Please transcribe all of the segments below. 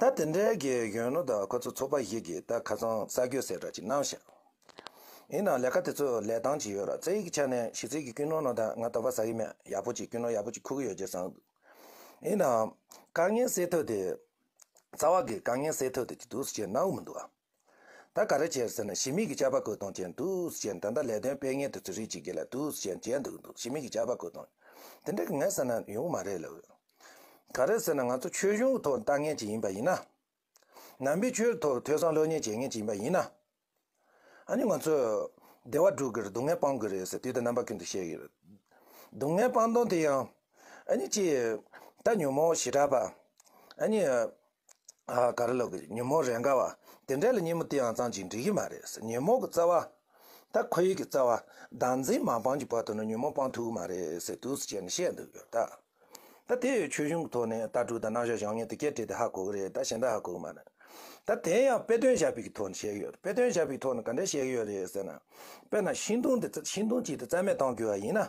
ད་དེ་འདྲའི་གི་གཞོན་ནུ་དང་ཁོ་ཚོ་ཚོགས་པ་ཞིག་གིས་ད་ཁ་སང་ས་གོས་ཟེར་གྲ་ཅིག་གནང་ཞིང། ཡིན་ནའང་ལས་ཀ་དེ་ཚོ་ལས་སྟངས་ཅིག་ཡོད་ར་རྩེ་ཡི་ཆ་ནས་ཞི་ཚིག་གི་སྐུལ་སྣོན་གནང་དང་ང་ད་བ་ས་ཡི་མེད་ཡག་པོ་ཅིག་སྐུལ་སྣོན་ཡག་པོ་ཅིག་འཁུར་གི་ཡོད་ཅེས་གསང་འདུག་ཡིན་ནའང། དཀའ་ངལ་སེལ་ཐུབ་དེ། རྩ་བ་གི་དཀའ་ངལ་སེལ་ཐུབ་དེ་ཅིག་འདུག་ཟེར་ཅེས་གནང་འོས་མི་འདུག་ཨ། ད་ག་རེ་བྱས་ཟེར་ན་ཞི་མིག་གི་ཆར་པ་བཀོད་གཏོང་བྱས་འདུག་ཟེར་གྱིན་ད་ལྟ་ལས་དོན་སྤེལ་མཁན་དེ་ཚོས་རིགས་གཅིག་རྒྱལ་ལ་དུ་ཟེར་གྱིན་བྱས་འདུག་འདུག་ཞི་མིག་གི་ཆར་པ་བཀོད་གཏོང། དེ་འདྲ་གི་ངས་ཟེར་ན་ཡོང་གི་མ་རེད་ལབ། ག་རེ་ཟེར་ན་ང་ཚོ་ཆོས་གཞུང་གི་ཐོག་ལྟ་མཁན་ཅིག་ཡིན་པ་ཡིན་ན། ནང་པའི་ཆོས་ཐོག་ཐོས་བསམ་ལྷོད་གཉེར་བྱེད་མཁན་ཅིག་ཡིན་པ་ཡིན་ན། ཨ་ནི་ང་ཚོས་བདེ་བ་སྒྲུག་གི་རེད་སྡུག་བསྔལ་སྤང་གི་རེད་ཟེར་དུས་ད་རྣམ་པ་ཀུན་ཏུ་བཤད་ཀྱི་རེད། སྡུག་བསྔལ་སྤང་གཏོང་དེ་ཡང། ཨ་ནི་ཅི། ད་ཉོན་མོངས་ཞི་དྲག་པ། ཨ་ནི། ག་རེ་ལབ་གི་རེད་ཉིན་མོ་རེ་འགའ་བ་དེ་འདྲ་ལ་ཉིན་མོ་དེའང་ཙམ་གྱིས་འགྲིག་གི་མ་རེད་ཉིན་མོ་གི་རྩ་བ། ད་ཁོ་ཡིག་གི་རྩ་བ། ཟླ་མཛེས་མ་སྤང་གི་བར་དུ་ནི་ཉིན་མོ་སྤང་ཐུབ་གི་མ་རེད་ཟེར་དུས་སུ་བྱས་ནས་བཤད་འདུག་གི་ད། ད་དེ་ཡོད་ཆོས་གཞུང་གི་ཐོག་ནས་ལྟ་གྲུབ་དང་རྣམ་གཞག་བྱང་སྙིང་དུ་སྐྱེལ་འཕྲད་དེ་ཧ་གོ་གི་རེད་ད་གཞན་དག་ཧ་གོ་གི་མ་རེད། ད་དེ་ཡང་དཔེ་སྟོན་བྱ་ཕིག་གི་ཐོག་ནས་བཤད་གི་ཡོད་རེད་དཔེ་སྟོན་བྱ་ཕིག་གི་ཐོག་ནས་ག་འདྲས་བཤད་གི་ཡོད་རེད་ཟེར་ན། དཔེར་ན་ཤིང་སྡོང་དེ་ཤིང་སྡོང་གཅིག་དེ་རྩ་མེད་གཏང་དགོས་བ་ཡིན་ན།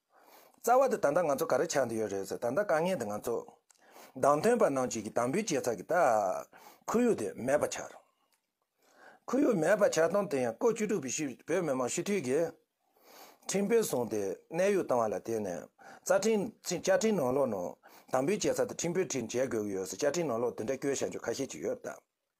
རྩ་བ་དུ་ད་ལྟ་ང་ཚོ་ག་རེ་ཆགས་འདི་ཡོད་རེད་ཟེར་ད་ལྟ་དཀའ་ངལ་འདི་ང་ཚོ། བདང་ཐོན་པ་ནང་བཅུད་ཀྱི་དམ་འབུལ་བྱས་ཚར་གི་ད། ཁོར་ཡུག་དེ་མེད་པ་ཆགས། ཁོར་ཡུག་མེད་པ་ཆགས་སྟངས་དེ་ཡང་ལྐོག་བཅུ་དྲུག་པའི་ཤི་བོད་མི་མང་ཤི་འཐུས་ཀྱི། ཁྲིམས་དཔོན་བཟུང་སྟེ་གནས་དབྱུག་བཏང་བ་ལ་བརྟེན་ནས་རྩ་ཁྲིམས་བཅའ་ཁྲིམས་ནང་ལོགས་ནང་དམ་འབུལ་བྱས་ཚར་དུ་ཁྲིམས་དཔོན་ཁྲིམས་བྱས་དགོས་ཀྱི་ཡོད་ཟེར་བཅའ་ཁྲིམས་ནང་ལོགས་འདི་འདྲ་སྐྱོན་བཤད་འཇུག་ཁ་ཤས་ཅིག་ཡོད་ད།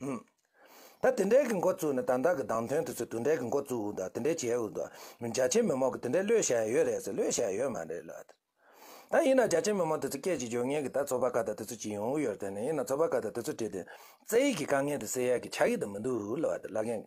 ཧུམ། ད་དེ་འདྲའི་གི་འགོ་བཙུགས་ནས་དང་བདག་གི་གདངས་ཐོན་དུ་ཚོས་དུ་འདྲའི་གི་འགོ་བཙུགས་འུ་འདུག་དེ་འདྲའི་བྱས་འུ་འདུག་མི་རྒྱ་ཆེན་མི་མང་གི་དེ་འདྲའི་བློས་བྱས་ཡོད་རེད་ཟེར་བློས་བྱས་ཡོད་མ་རེད་ལབ་དེ། ད་ཡིན་ན་རྒྱ་ཆེན་མི་མང་དེ་ཚོ་སྐད་ཅིག་བརྗོད་ངེས་གི་ད་ཚོ་པ་ཀ་དག་དེ་ཚོ་ཅི་ཡོང་འུ་ཡོད་དེ་ནས་ཡིན་ན་ཚོ་པ་ཀ་དག་དེ་ཚོ་བྲིས་དེ། རྩེ་ཡིག་གི་དཀའ་ངལ་དེ་སེལ་ཡག་གི་ཆགས་ཀི་དུ་མི་འདུག་ལབ་དེ་བླ་རྒན་གི།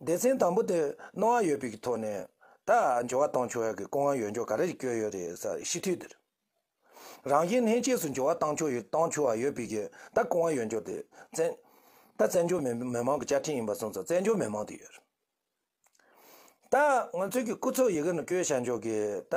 སྡེ་ཚན་དང་པོ་དེ་སྣང་བ་ཡོད་པའི་ཐོག་ནས་ད་འབྱོར་བ་བཏང་ཆོག་ཡ་གི་སྐུ་ངལ་ཡོད་འཇོག་ག་རེ་བསྐྱོད་ཡོད་རེད་ས་ཤི་དུས་དེར། རང་བཞིན་ལྷན་སྐྱེས་སུ་འབྱོར་བ་བཏང་ཆོག་ཡོད་བཏང་ཆོག་ཡོད་པའི་གི་ད་སྐུ་ངལ་ཡོད་འཇོག་དེ་བཙན། ད་བཙན་འབྱོར་མི་མི་མང་གི་བཅའ་ཁྲིམས་ཡིན་པ་གསུངས་ཚོགས་བཙན་འབྱོར་མི་མང་དེ་ཡོད་རེད། ད་ང་ཚོའི་གི་སྐུ་ཚོགས་ཡི་གེ་ནང་བསྐྱོད་བྱ་འཇོག་གི་ད།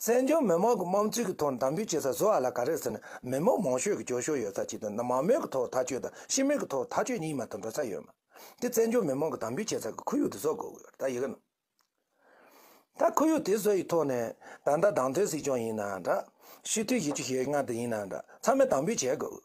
བཙན་བྱོལ་མི་མང་གི་དམངས་གཙོའི་གི་ཐོག་འདམ་བུའི་བྱེད་ས་བཟོ་བ་ལ་ག་རེ་ཟེར་ན་མི་མང་མང་ཤོས་ཀྱི་ཀྱོ་ཤོ་ཡོད་ས་གཅིག་དང་མང་མོས་ཀྱི་ཐོག་ཐག་གཅོད་དང་ཤི་རྨས་ཀྱི་ཐོག་ཐག་གཅོད་གཉིས་མ་ཐུབ་འགྲོ་ས་ཡོད་མ་དེ་བཙན་བྱོལ་མི་མང་གི་འདམ་བུའི་བྱེད་ས་གི་ཁོར་ཡུག་དེ་བཟོ་དགོས་གི་ཡོད་ད་ཡི་གི་ན་ད་ཁོར་ཡུག་དེ་བཟོ་ཡི་ཐོག་ནས་ད་ད་བདག་མདུན་སྲིད་སྐྱོང་ཡིན་ན་འདྲ་ཤི་དུས་ཡི་ཆུ་ཤེལ་ལྔ་དེ་ཡིན་ན་འདྲ་ཚང་མས་འདམ་བུའི་བྱེད་དགོས་གི་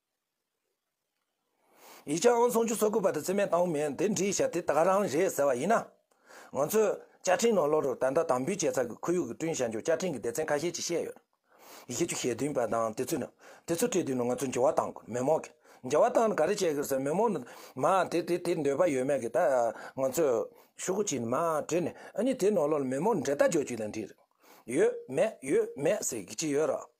ཡིག་ཆ་ཨང་སུམ་ཅུ་སོ་དགུ་པ་དེ་ཚེ་མས་བཏང་བ་མིན་དེ་འབྲི་ཞབས་དེ་དག་རང་རེད་ཟེར་བ་ཡིན་ན། ང་ཚོས་བཅའ་ཁྲིམས་ནང་ལོ་རེར་ད་ལྟ་དམ་འབུལ་བྱས་ཚར་གི་ཁོར་ཡུག་གི་བསྐྲུན་བྱ་མཇུག་བཅའ་ཁྲིམས་ཀྱི་སྡེ་ཚན་ཁ་ཤས་ཀྱིས་བཤད་ཡོད། ཡི་གེ་བཅུ་ཞེ་བདུན་པ་དང་དེ་ཚོས་དེ་ཚོ་བྲིས་དུས་ནི་ང་ཚོས་འགྱུར་བ་བཏང་དགོས་མོད་མོག་གི་འགྱུར་བ་བཏང་ནས་ག་རེ་བྱས་དགོས་ཟེར་མོད་མོག་ནི་མ་དེ་དེ་དེ་འདོད་པ་ཡོད་མེད་ཀྱི་ད་ང་ཚོས་ཤུགས་ཀྱིས་ནི་མ་བྲིས་ནས་ཨ་ནི་དེ་ནང་ལོ་ལ་མོས་མོག་ནི་འབྲེལ་ལྟ་སྦྱོར་གྱིས་ལ་འབྲིས་རེད། ཡོད་མེད་ཡོད་མེད་ཟེར་གྱི་ཡོད་རོགས།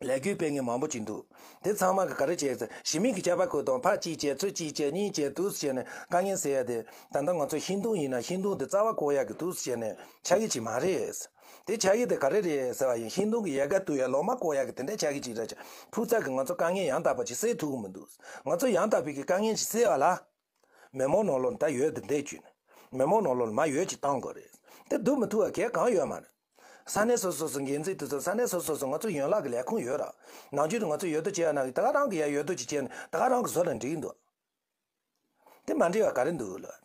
ལས་རྒྱུ་སྤེལ་མཁན་མང་པོ་ཅིག་འདུག་དེ་ཚང་མ་གི་ག་རེ་བྱས་ཚེ་གཞི་མེད་ཀྱི་ཁྱད་པར་ཁོ་དང་ཕ་གཅིག་བྱས་ཚོད་གཅིག་བྱས་གཉིས་བྱས་དུས་སུ་བྱས་ནས་དཀའ་ངལ་སེལ་ཡ་དེ་ད་ལྟ་ང་ཚོ་ཧིན་དུང་ཡིན་ན་ཧིན་དུང་དེ་རྩ་བ་བཀོག་ཡ་གི་དུས་སུ་བྱས་ནས་ཆ་གི་ཅིག་མ་རེད། དེ་ཆ་གི་དེ་ག་རེ་རེད་ཟེར་བ་ཡིན་ཧིན་དུང་གི་ཡལ་ག་དུ་ཡ་ལོག་མ་བཀོག་ཡ་གི་དེ་འདྲ་ཆ་གི་ཅིག་རེད་ཕུགས་ཚག་གི་ང་ཚོ་དཀའ་ངལ་ཡང་དག་པ་ཅིག་སེལ་ཐུབ་གི་མི་འདུག་ང་ཚོ་ཡང་དག་པའི་གི་དཀའ་ངལ་ཅིག་སེལ་བ་ལ། མེ་མོ་ནོ་ལོར་ད་ཡོད་འདི་འདྲས་བྱུས་ནས་མེ་མོ་ནོ་ལོར་མ་ཡོད་ཅིག་བཏང་དགོས་རེད་དེ་སྡུག་མི་ཐུ་བ་གས་གང་ཡོད་མ་རེད་ས་གནས་སོ་སོ་སུ་འགན་འཛིན་དེ་ཚོ་ས་གནས་སོ་སོ་སུ་ང་ཚོ་ཡོན་ལག་གི་ལས་ཁུངས་ཡོད་ར་ནང་ཆུས་དུ་ང་ཚོ་ཡོད་དོ་ཅེ་ཡ་ནང་གི་ད་ག་རང་གི་ཡ་ཡོད་དོ་ཅིག་བྱས་ནས་ད་ག་རང་གི་བཟོ་ལ་འགྲིག་འདུག་དེ་མ་འགྲིག་བ་ག་རེ་འདུག་ལོད།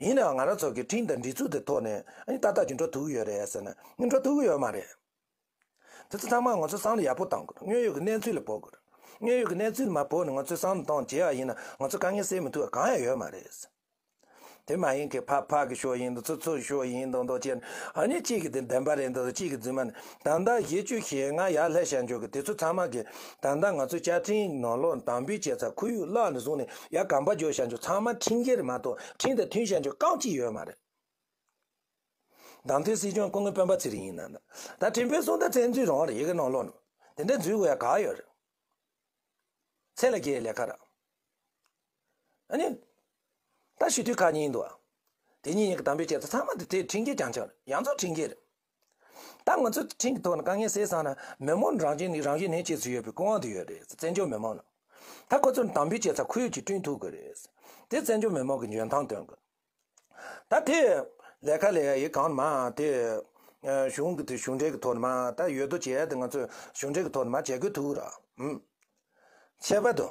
ཡིན་ནའང་ང་རང་ཚོ་གི་ཁྲིན་དང་འདྲི་ཚུགས་དེ་ཐོག་ནས་ཨ་ཏི་ཏག་ཏག་གི་འགྲོ་ཐུག་གི་ཡོད་རེད་ཟེར་ན་ནི་འགྲོ་ཐུག་གི་ཡོད་མ་རེད། དེ་ཚོ་ཚང་མ་ང་ཚོ་སང་ལ་ཡག་པོ་གཏང་དགོས་དངོས་ཡོད་གི་གནས་ཚུལ་ལ་བོ་དགོས། དངོས་ཡོད་གི་གནས་ཚུལ་མ་བོ་ནས་ང་ཚོས་སང་ལ་གཏང་བྱེད་ཡག་ཡིན་ན་ང་ཚོ་དཀའ་ངལ་སེལ་མི་ཐུབ་པ་གང་ཡང་ཡོད་མ་རེད། དེ་མ་ཡིན་གི་ཕག་ཕག་གི་ཤོག་ཡིན་དང་ཚུར་ཚུར་གི་ཤོག་ཡིན་དང་དང་བཅས་ནས་ཨ་ནི་གཅིག་གི་དེ་བདེན་པ་རེད་འདུག་གཅིག་གི་རྫུན་མ་ནི་ད་ལྟ་གཞི་བཅུ་ཞེ་ལྔ་ཡར་ལྷས་བཤད་འཇོག་གི་དེ་ཚོ་ཚང་མ་གི་ད་ལྟ་ང་ཚོ་བཅའ་ཁྲིམས་ནང་ལོག་དང་འབུད་བྱས་ཚ་ཁུ་ཡུག་བརླག་ནས་བཟུང་ནས་ཡ་གམ་པ་འཇོག་བཤད་འཇོག་ཚང་མ་ཁྲིམས་འགལ་མ་གཏོགས་ཁྲིམས་དང་མཐུན་བཤད་འཇོག་རྐང་གཅིག་ཡོད་མ་རེད། གདམ་ཐོན་སྲིད་སྐྱོང་སྐུ་ངོ་སྤེན་པ་ཚེ་རིང་ཡིན་ན་ད་ཁྲིམས་དཔོན་སུ་ད་བཙན་འཛུལ་རང་རེད་གི་ནང་ལོག་ནང་དེ་འདྲ་འཛུལ་དགོས་ཡ་ག་ཡོད་རེད། ཚེ་ལ་རྒྱའི་ལས་ཁ་ར་ཨ་ནི་ད་ཞུ་དུས་ཁ་ཉིན་འདུག་ཨ་དེ་གཉིས་ཡིན་གི་དམ་འབུལ་བྱས་ཚ་ཚང་མ་དེ་ཁྲིམས་འགལ་རྐྱང་རྐྱང་རེད་ཡང་རྫོགས་ཁྲིམས་འགལ་རེད། ད་ང་ཚོའི་ཁྲིམས་ཀྱི་ཐོག་ནས་དཀའ་ངལ་སེལ་ཚར་ན་མི་དམངས་རང་གཅེས་ནི་རང་གཞན་གཅེས་ཚུལ་ཡོད་པའི་སྐུ་དབང་དུ་ཡོད་རེད་བཙན་བྱོལ་མི་དམངས་ནང། ད་ཁོ་ཚོར་དམ་འབུལ་བྱེད་ས་ཁུལ་གྱིས་བསྐྲུན་ཐུབ་དགོས་རེད། དེ་བཙན་བྱོལ་མི་དམངས་ཀྱི་འཇོན་ཐང་སྟོན་དགོས། ད་དེ། ལས་ཀ་ལས་ཡི་གང་ནས་མ་དེ། གཞུང་གི་དེ་གཞུང་འབྲེལ་གྱི་ཐོག་ནས་མ་ད་ཡོད་དོ་བྱས་ད་ང་ཚོས་གཞུང་འབྲེལ་གྱི་ཐོག་ནས་མ་བྱེད་དགོས་ཐུག་ར། བྱས་པ་དང།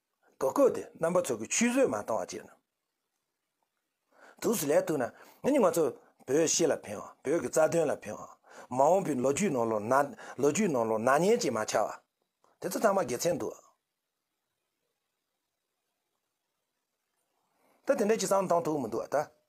རྡོ་བརྐོས་ཏེ་རྣམ་པ་ཚོགས་ཀྱི་ཆུད་ཟོས་མ་བཏང་བ་བྱས། དུས་སུ་ལས་ཐུག་ན་ནི་ང་ཚོ་བོད་གཞིས་ལ་ཕན་བ་བོད་ཀྱི་རྩ་དོན་ལ་ཕན་བ་མ་འོངས་པའི་ལོ་རྒྱུས་ནང་ལོ་ན་ལོ་རྒྱུས་ནང་ལོ་ན་ཉེན་ཅིག་མ་ཆགས་བ། དེ་ཚོ་ཚང་མ་དགེ་མཚན་འདུག། ད་དེ་འདྲ་ཅིག་བསམ་བཏང་ཐུབ་མི་འདུག་ད།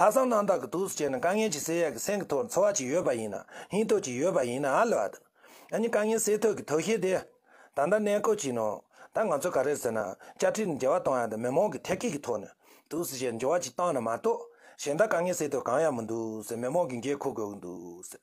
ལྷག་བསམ་རྣམ་དག་གི་དུག་སུ་བྱས་ན་དཀའ་ངལ་གྱིས་སེལ་ཡས་ཀྱི་སེང་གི་ཐོག་ལ་འཚོ་བ་ཅིག་ཡོད་པ་ཡིན་ན་སྙིང་སྟོབས་ཅིག་ཡོད་པ་ཡིན་ནའ་ལེ་བ་དང། ཨ་ནི་དཀའ་ངལ་སེལ་ཐོག་གི་དོགས་གཞི་དེ། ད་ལྟ་གནས་སྐོར་གྱིས་ནོ། ད་ང་ཚོས་ག་རེ་ཟེར་ན་བཅའ་ཁྲིམས་ནི་འགལ་བ་གཏོང་ཡ་དང་མི་མང་གི་ཐད་ཀའི་གི་ཐོག་ནས་དུག་སུ་བྱས་ནས་འགྱུར་བ་ཅིག་བཏང་ན་མ་གཏོགས། གཞན་དག་དཀའ་ངལ་སེལ་ཐོག་གང་ཡང་མི་འདུག་ཟེར་མི་མང་གིས་འགན་འཁུར་དགོས་ཀྱི་འདུག་ཟེར།